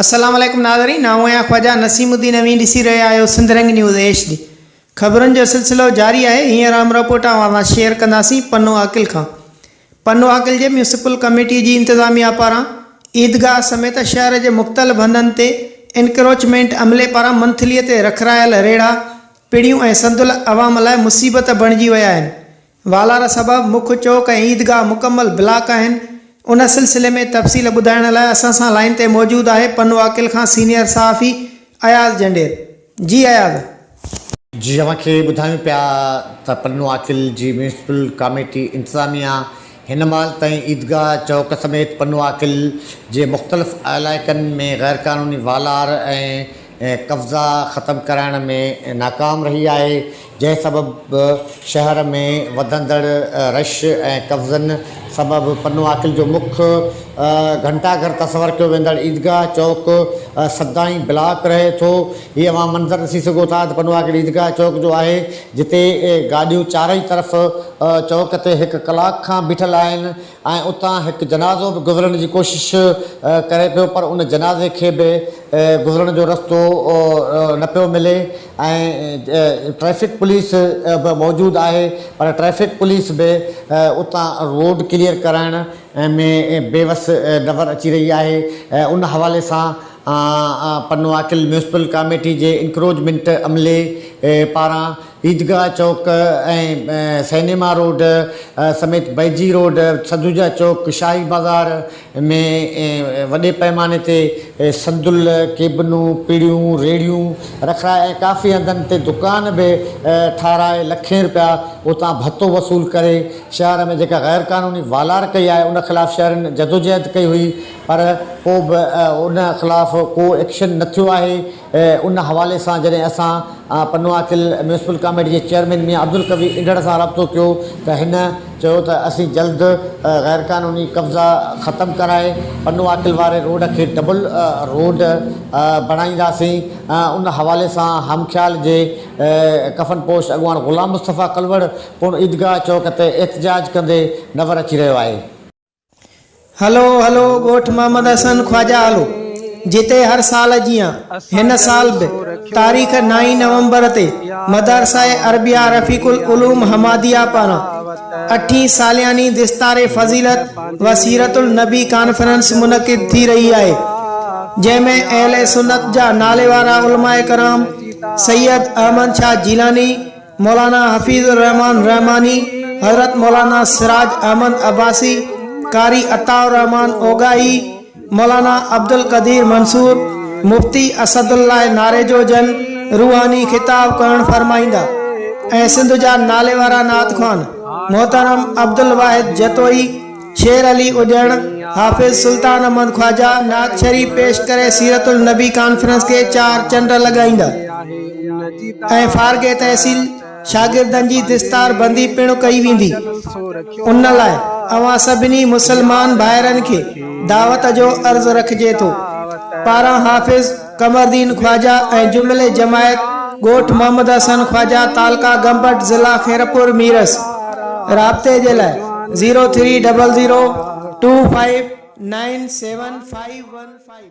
السلام عليڪم ناظرين آئون آهيان خواجا نسيم الدين اوهين ڏسي رهيا آهيو Sindh Rang news H D خبرن جو سلسلو جاري آهي هينئر اهم رپورٽ اوهان سان شيئر ڪنداسين پنو عاقل کان پنو عاقل جي ميونسپل ڪميٽي جي انتظاميا پاران عيدگاهه سميت شهر جي مختلف هنڌن تي انڪروچمينٽ عملي پاران منٿلي تي رکرايل ريڙها پڙيون ۽ سندل عوام لاء مصيبت بڻجي ويا آهن، والار سبب مک چوڪ ۽ عيدگاهه مڪمل بلاڪ آهن، ان سلسلي ۾ تفصيل ٻڌائڻ لاء اسان سان لائين تي موجود آهي پنواڪل کان سينيئر صحافي اياز جنڊير، جي اياز. جي اوهان کي ٻڌايون پيا ته پنواڪل جي ميونسپل ڪاميٽي انتظاميا هن مهل تائين عيدگاهه چوڪ سميت پنواڪل جي مختلف علائقن ۾ غيرقانوني والار ۽ قبضا ختم ڪرائڻ ۾ ناڪام رهي آهي، جنهن سبب شهر ۾ وڌندڙ رش ۽ قبضن سبب پنواڪل جو مک گهنٽا گهر تصور ڪيو ويندڙ عيدگاهه چوڪ سدائين بلاڪ رهي ٿو. هي اوهان منظر ڏسي سگهو ٿا ته پنواڪل عيدگاهه چوڪ جو آهي، جتي گاڏيون چارئي طرف چوڪ تي هڪ ڪلاڪ کان بيٺل آهن ۽ اتان هڪ جنازو به گذرڻ جي ڪوشش ڪري پيو پر ان جنازي کي به گذرڻ جو رستو نه پيو ملي ۽ ٽريفڪ پوليس به موجود آهي پر ٽريفڪ پوليس به اتان روڊ ڪليئر ڪرائڻ ۾ بي وس نظر اچي رهي آهي ان حوالي سان پنواڪل ميونسپل ڪاميٽي جي انڪروچمينٽ عملي پاران عيدگاهه چوڪ ۽ سئنيما روڊ سميت بئجي روڊ، سدوجا چوڪ، شاهي بازار ۾ وڏي پئماني تي صندل، ڪيبنون، پڙيون، ريڙهيون رکرائي ۽ ڪافي هنڌن تي دڪان به ٺاهرائي لکين رپيا اتان ڀتو وصول ڪري شهر ۾ جيڪا غير قانوني والار ڪئي آهي ان خلاف شهرين جدوجهد ڪئي هئي پر پوء به ان خلاف ڪو ايڪشن نه ٿيو آهي. ان حوالي سان جڏهن اسان پنواڪل ميونسپل ڪاميٽي جي چيئرمين ميان عبدالقوي انڍڙ سان رابطو ڪيو ته هن چيو ته اسين جلد غيرقانوني قبضا ختم ڪرائي پنواڪل واري روڊ کي ڊبل روڊ بڻائينداسين ان حوالي سان همخيال جي ڪفن پوش اڳواڻ غلام مصطفيٰ ڪلوڙ پڻ عيدگاهه چوڪ تي احتجاج ڪندي نور اچي رهيو آهي. هلو هلو ڳوٺ محمد حسن خواجا هلو جتي هر سال جيان هن سال به تاريخ نائين نومبر تي مدرسه عربيه رفيق العلوم حماديه پاران اٺين سالياني دستار فضيلت و سيرت النبي ڪانفرنس منعقد ٿي رهي آهي جنهن ۾ اهل سنت جا ناليوارا علماء ڪرام سيد احمد شاهه جيلاني مولانا حفيظ الرحمان رحماني، حضرت مولانا سراج احمد عباسي، قاري عطاء الرحمان اوڳاهي، مولانا عبدالقدير منصور، مفتي اسد الله ناريجو جن روحاني خطاب ڪرڻ فرمائيندا ۽ سنڌ جا ناليوارا نعت خوان محترم عبدالواحد جتوئي شير علي اڄڻ، حافظ سلطان احمد خواجه، نعت شريف پيش ڪري سيرت النبي ڪانفرنس کي چار چنڊ لڳائيندا ۽ فارغ تحصيل شاگردن جي دستار بندي پڻ ڪئي ويندي. ان لاء اوهان سڀني مسلمان ڀائرن کي دعوت جو عرض رکجي ٿو. پاران حافظ. قمردين خواجه ۽ جملي جماعت ڳوٺ محمد حسن خواجه تعلقه گمبٽ ضلع خيرپور ميرس رابطي جي لاء zero three double zero two five nine seven five one five